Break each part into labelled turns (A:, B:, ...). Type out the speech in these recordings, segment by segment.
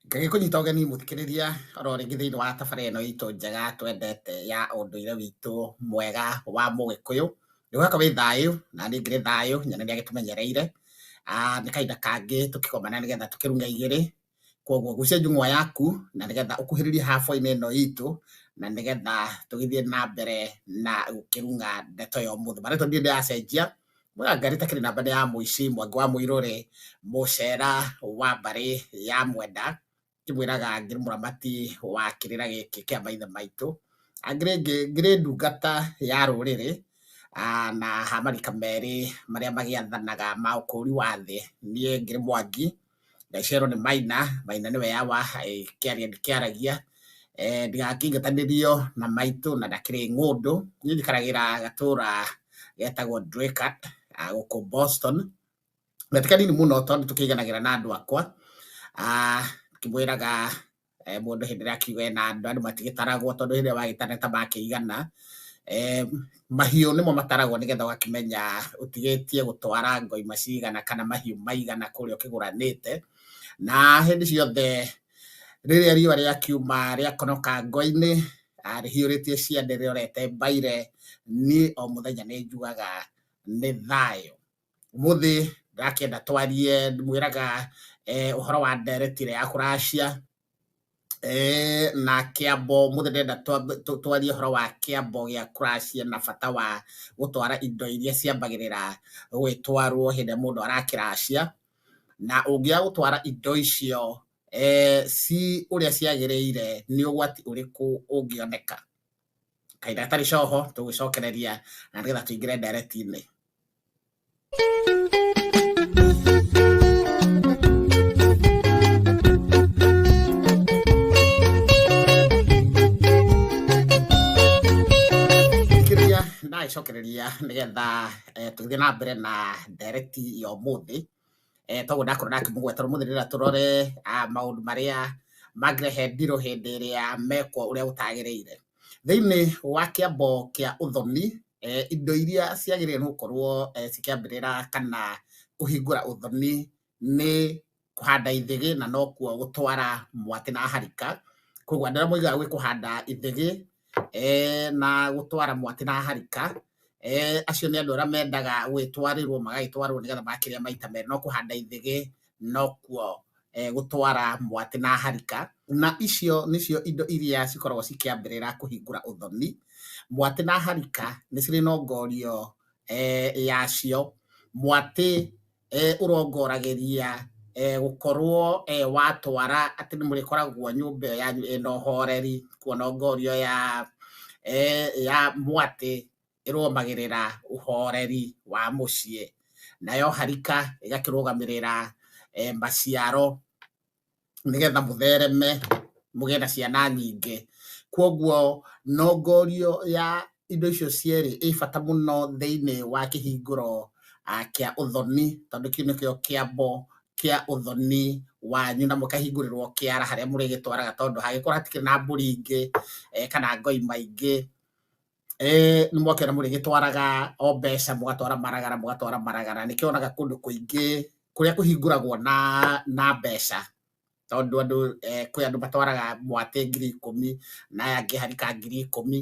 A: Ngerie kũnyita ũgeni mũthikĩrĩria oro rĩngĩ thĩinĩ wa tabarĩra ĩno itũ njega twendete ya ũndũire witũ mwega wa mũgĩkũyũ. Nĩ ũkoretwo wĩ thayũ, naniĩ ngĩrĩ thayũ, nyene nĩ agĩtũmenyereire. Nĩ kahinda kangĩ tũkĩgomana nĩ getha tũkĩruge igĩrĩ, kũguo gucia njung'wa yaku na nĩ getha ũkuhĩrĩrie hab-inĩ ĩno itũ, na nĩ getha tũgĩthiĩ na mbere na gũkĩruga ndeto ya ũmũthĩ. Marĩtwa niĩ ndiracenjia, Mũrangari takĩrĩ namba nĩ ya mũici Mwangi wa Mũirũrĩ, Mũcera wa mbarĩ ya Mwenda, akĩmwĩraga ngĩrĩ mũramati wa kĩrĩra gĩkĩ kĩa maithe maitũ, ngĩrĩ ngĩrĩ ndungata ya rũrĩrĩ na ha marika merĩ marĩa magĩathanaga ma ũkũri wa thĩ, niĩ ngĩrĩ Mwangi. Gacerũ nĩ Maina, Maina nĩwe yawa kĩaria ndĩkĩaragia, ndigakĩingatanĩrio na maitũ na ndakĩrĩ ng'ũndũ. Niĩ njikaragĩra gatũra getagwo Draycott gũkũ Boston, na ti kanini mũno tondũ nĩ tũkĩiganagĩra na andũ akwa, ngĩmwĩraga eh, mũndũ hĩndĩ ĩrĩa akiuga ena andũ andũ matigĩtaragwo tondũ hĩndĩ ĩrĩa wagĩtana ta makĩigana eh, mahiũ nĩmo mataragwo nĩgetha ũgakĩmenya ũtigĩtie gũtwara ngoi macigana kana mahiũ maigana kũrĩa ũkĩgũranĩte na hĩndĩ ciothe rĩrĩa riũa rĩakiuma rĩakonoka ngoi-inĩ rĩhiũrĩtie ciande rĩorete mbaire niĩ o mũthenya nĩ njugaga nĩ thayũ Ũmũthĩ ndakĩenda twarie ndĩmwĩraga eh, ũhoro wa ndereti ĩrĩa ya kũracia eh, na kĩambo ũmũthĩ ndĩrenda twambe- tũ- twarie ũhoro wa kĩambo gĩa kũracia na bata wa gũtwara indo iria ciambagĩrĩra gwĩtwarwo hĩndĩ ĩrĩa mũndũ arakĩracia na ũngĩaga gũtwara indo icio eh, ci ũrĩa ciagĩrĩire nĩ ũgwati ũrĩkũ ũngĩoneka kaĩ ndagĩtarĩ coho tũgũcokereria na nĩgetha tũingĩre ndereti-inĩ kĩrĩa ndagĩcokereria nĩgetha eh, tũgĩthiĩ na mbere na ndereti ya ũmũthĩ eh, toguo ndakorwo ndakĩmũgweta rũmũthĩ rĩra tũrore ah, maũndũ marĩa mangĩrehe ndirũ hĩndĩ ĩrĩa mekwo ũrĩa gũtagĩrĩire thĩinĩ wa kĩambo kĩa ũthoni eh, indo iria ciagĩrĩire nĩ gũkorwo eh, cikĩambĩrĩra kana kũhingũra ũthoni nĩ kũhanda ithĩgĩ na nokuo gũtwara mwatĩ na harika koguo andũ arĩa moigaga gwĩ kũhanda ithĩgĩ na gũtwara mwatĩ na harika, acio nĩ andũ arĩa mendaga gũgĩtwarĩrwo magagĩtwarwo nĩgetha magakĩrĩa maita merĩ, no kũhanda ithĩgĩ nokuo gũtwara mwatĩ na harika, na icio nĩcio indo iria cikoragwo cikĩambĩrĩra kũhingũra ũthoni. Mwatĩ na harika nĩ cirĩ nongorio yacio, mwatĩ eh, ũrongorageria eh, gũkorwo eh, watwara atĩ nĩ mũrĩkoragwo nyũmba ĩyo yanyu ĩna ũhoreri kuona ngorio ya eh, ya mwatĩ ĩrũmagĩrĩra ũhoreri wa mũciĩ nayo harika ĩgakĩrũgamĩrĩra eh, maciaro nĩgetha mũthereme mũgĩe na ciana nyingĩ. Kwoguo nongorio ya indo icio cierĩ ĩ bata mũno thĩinĩ wa kĩhingũro kĩa ũthoni tondũ kĩu nĩkĩo kĩambo kĩa ũthoni wanyu na mũkahingũrĩrwo kĩara harĩa mũrĩgĩtwaraga tondũ hangĩkorwo hatikĩrĩ na mbũri ingĩ eh, kana ngoi maingĩ eh, nĩ mwakĩona mũrĩ gĩtwaraga o mbeca mũgatwara maragara mũgatwara maragara nĩ kĩonaga kũndũ kũingĩ kũrĩa kũhingũragwo na na mbeca tondũ andũ eh, kwĩ andũ matwaraga mwatĩ ngiri ikũmi na aya angĩ harika ngiri ikũmi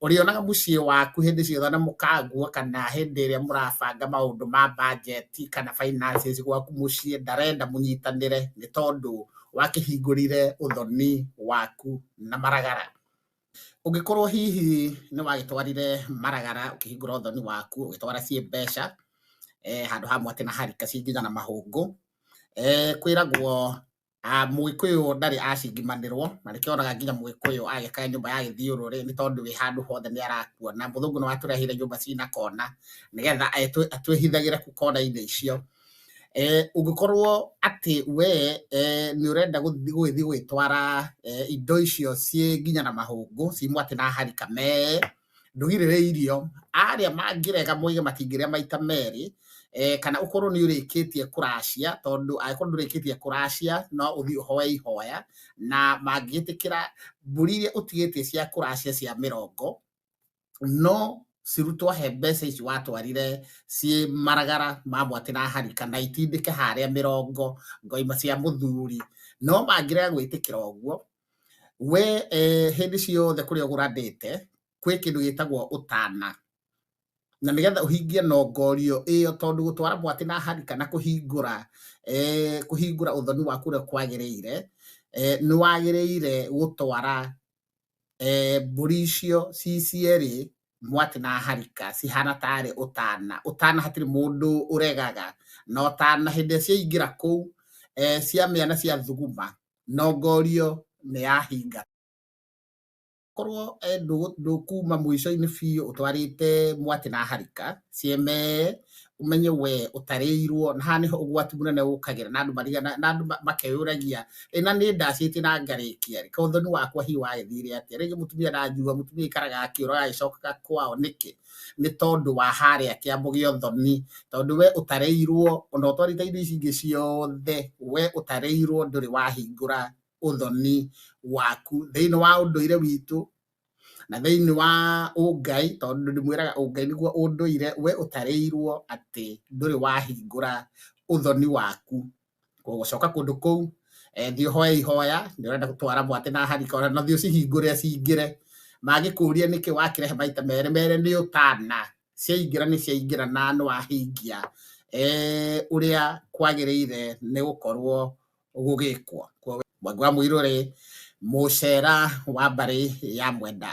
A: ũrĩonaga mũciĩ waku hĩndĩ ciothe na mũkangua kana hĩndĩ ĩrĩa mũrabanga maũndũ ma bajeti kana finances gwaku mũciĩ ndarenda mũnyitanĩre nĩ tondũ wakĩhingũrire ũthoni waku na maragara Ũngĩkorwo hihi nĩ wagĩtwarire maragara ũkĩhingũra ũthoni waku ũgĩtwara ciĩ mbeca eh, handũ ha mwatĩ na harika cinginya na mahũngũ eh, kwĩragwo ah, mũgĩkũyũ ndarĩ acingimanĩrwo na nĩkĩo oraga nginya mũgĩkũyũ agĩka nyũmba ya gĩthiũrũrĩ nĩ tondũ wĩ handũ hothe nĩ arakuona mũthũngũ nĩ watũrehire nyũmba cina kona nĩgetha atwĩhithagĩre kũ kona-inĩ icio Ũngĩkorwo atĩ we nĩ ũrenda gũthiĩ gwĩtwara indo icio ciĩ nginya na mahũngũ ciumwo atĩ na harika mee, ndũgirĩrĩirio. Arĩa mangĩrega moige matingĩrĩa maita merĩ, kana ũkorwo nĩ ũrĩkĩtie kũracia, tondũ angĩkorwo ndũrĩkĩtie kũracia no ũthiĩ ũhoe ihoya, na mangĩgĩtĩkĩra mbũri iria ũtigĩtie cia kũracia cia mĩrongo. no cirutwo he mbeca ici watwarire ciĩ maragara mamwe atĩ na hari kana itindĩke harĩa mĩrongo ngoima cia mũthuri no mangĩrega gwĩtĩkĩra ũguo we eh, hĩndĩ ciothe kũrĩa ũgũrandĩte kwĩ kĩndũ gĩtagwo ũtana na nĩgetha ũhingie nongorio ĩyo tondũ gũtwara mwatĩ na hari kana kũhingũra eh, kũhingũra ũthoni waku ũrĩa kwagĩrĩire eh, nĩ wagĩrĩire gũtwara eh, mbũri icio ci cierĩ mwatĩ na harika cihana tarĩ ũtana ũtana hatirĩ mũndũ ũregaga na ũtana hĩndĩ ĩrĩa ciaingĩra kũu eh, ciamĩa na cia thuguma no ngorio nĩ yahinga korwo eh, ndũ- ndũkuma mũico-inĩ biũ ũtwarĩte mwatĩ na harika cieme umenye we utarĩirwo na haha niho ugwati munene ukagira na andu mariga na andu makeyuragia ri na ni ndacite na ngarikia ri kothoni wakwa hi wagithire atia ringi mutumia na njua mutumia ikaraga akiuraga agicokaga kwao niki ni tondu wa haria kiambu gia uthoni tondu we utarĩirwo ona utwarite indo ici ingi ciothe we utarĩirwo nduri wahingura uthoni waku thiini wa unduire witu na thĩinĩ wa ũngai tondũ ndĩmwĩraga ũngai nĩguo ũndũire we ũtarĩirwo atĩ ndũrĩ wahingũra ũthoni waku gũcoka kũndũ kũu eh, thiĩ ũhoe ihoya nĩ ũrenda gũtwara mwatĩ na harika ona na thiĩ ũcihingũre cingĩre mangĩkũria nĩkĩ wakĩrehe maita merĩ merĩ nĩ ũtana ciaingĩra nĩ ciaingĩra na nĩ wahingia eh, ũrĩa kwagĩrĩire nĩ gũkorwo gũgĩkwo mwangwa mũirũ rĩ mũcera wa mbarĩ ya mwenda